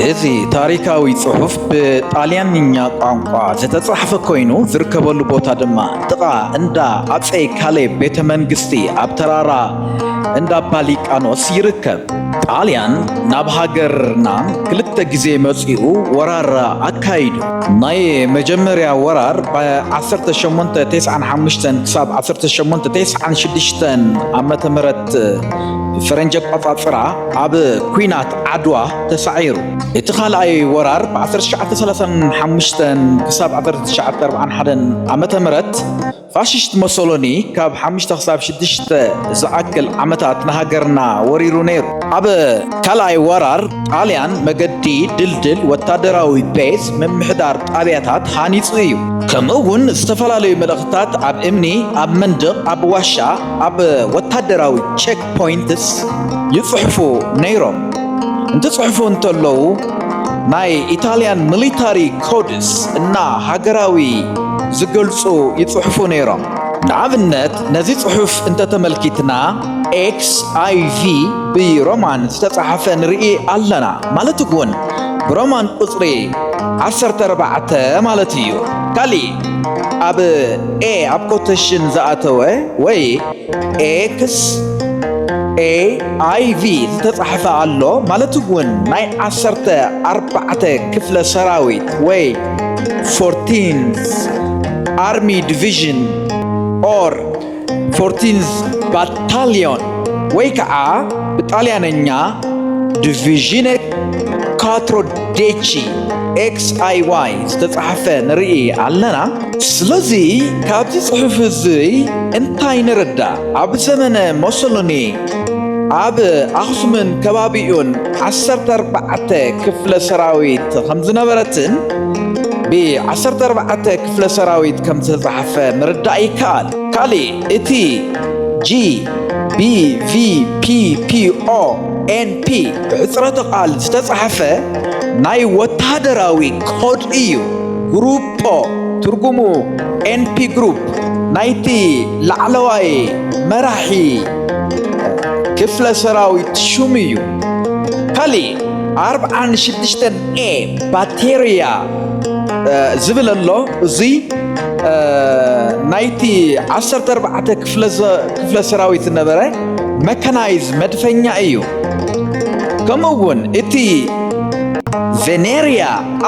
እዚ ታሪካዊ ጽሑፍ ብጣልያንኛ ቋንቋ ዝተጻሕፈ ኮይኑ ዝርከበሉ ቦታ ድማ ጥቓ እንዳ ኣፀይ ካሌብ ቤተ መንግስቲ ኣብ ተራራ እንዳ ባሊቃኖስ ይርከብ። ጣልያን ናብ ሃገርና ክልተ ግዜ መጺኡ ወራር ኣካይዱ። ናይ መጀመርያ ወራር ብ1895 ክሳብ 1896 ዓ.ም ፈረንጂ ኣቋፃፅራ ኣብ ኩናት ዓድዋ ተሳዒሩ እቲ ካልኣይ ወራር ብ1935 ክሳብ 1941 ዓ ም ፋሽስት ሞሶሎኒ ካብ 5 ክሳብ 6 ዝኣክል ዓመታት ንሃገርና ወሪሩ ነይሩ ኣብ ካልኣይ ወራር ጣልያን መገዲ ድልድል ወታደራዊ ቤዝ ምምሕዳር ጣብያታት ሃኒፁ እዩ ከምኡ እውን ዝተፈላለዩ መልእኽትታት ኣብ እምኒ ኣብ መንድቕ ኣብ ዋሻ ኣብ ወታደራዊ ቼክ ፖይንትስ ይጽሕፉ ነይሮም እንትጽሕፉ እንተለዉ ናይ ኢታልያን ሚሊታሪ ኮድስ እና ሃገራዊ ዝገልጹ ይጽሕፉ ነይሮም። ንኣብነት ነዚ ጽሑፍ እንተተመልኪትና ኤክስ ኣይቪ ብሮማን ዝተጻሕፈ ንርኢ ኣለና ማለት እውን ብሮማን ቁጽሪ ዓሰርተ ኣርባዕተ ማለት እዩ። ካሊእ ኣብ ኤ ኣብ ኮተሽን ዝኣተወ ወይ ኤክስ ኤ ኣይ ቪ ዝተጻሕፈ ኣሎ ማለት እውን ናይ ዓሰርተ ኣርባዕተ ክፍለ ሰራዊት ወይ ፎርቲንስ ኣርሚ ዲቪዥን ኦር ፎርቲንዝ ባታልዮን ወይ ከዓ ብጣልያነኛ ዲቪዥነ ካትሮ ዴቺ ኤክስ ኣይ ዋይ ዝተፃሕፈ ንርኢ ኣለና። ስለዚ ካብዚ ፅሑፍ እዚ እንታይ ንርዳእ? ኣብ ዘመነ ሞሶሎኒ ኣብ ኣኽሱምን ከባቢኡን ዓሰርተ ኣርባዕተ ክፍለ ሰራዊት ከምዝነበረትን ብ14 ክፍለ ሰራዊት ከም ዝተጻሕፈ ምርዳእ ይከኣል። ካልእ እቲ ጂ ቢ ቪ ፒ ፒ ኦ ኤን ፒ ብሕጽረተ ቃል ዝተጻሕፈ ናይ ወተሃደራዊ ኮድ እዩ። ግሩፖ ትርጉሙ ኤንፒ ግሩፕ ናይቲ ላዕለዋይ መራሒ ክፍለ ሰራዊት ሹም እዩ። ካልእ ኣርብዓን ሽዱሽተን ኤ ባቴርያ ዝብል ኣሎ እዙይ ናይቲ ዓሰርተ ኣርባዕተ ክፍለ ሰራዊት ዝነበረ መካናይዝ መድፈኛ እዩ ከምኡ እውን እቲ ቬኔርያ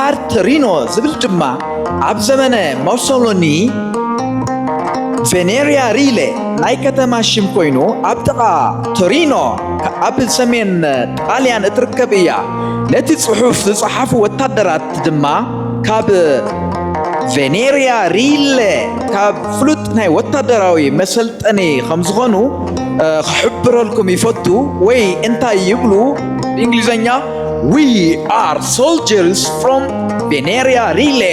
ኣርተሪኖ ዝብል ድማ ኣብ ዘመነ ሞሶሎኒ ቬኔርያ ሪለ ናይ ከተማ ሽም ኮይኑ ኣብ ጥቓ ቶሪኖ ኣብ ሰሜን ጣልያን እትርከብ እያ ነቲ ጽሑፍ ዝጸሓፉ ወታደራት ድማ ካብ ቬኔርያ ሪለ ካብ ፍሉጥ ናይ ወታደራዊ መሰልጠኒ ከም ዝኾኑ ክሕብረልኩም ይፈቱ ወይ እንታይ ይብሉ ብእንግሊዘኛ ዊ ኣር ሶልጀርስ ፍሮም ቬኔርያ ሪለ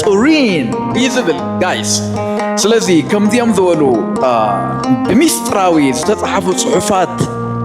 ቱሪን እዩ ዝብል ጋይስ ስለዚ ከምዚኦም ዝበሉ ብሚስጥራዊ ዝተጻሓፉ ጽሑፋት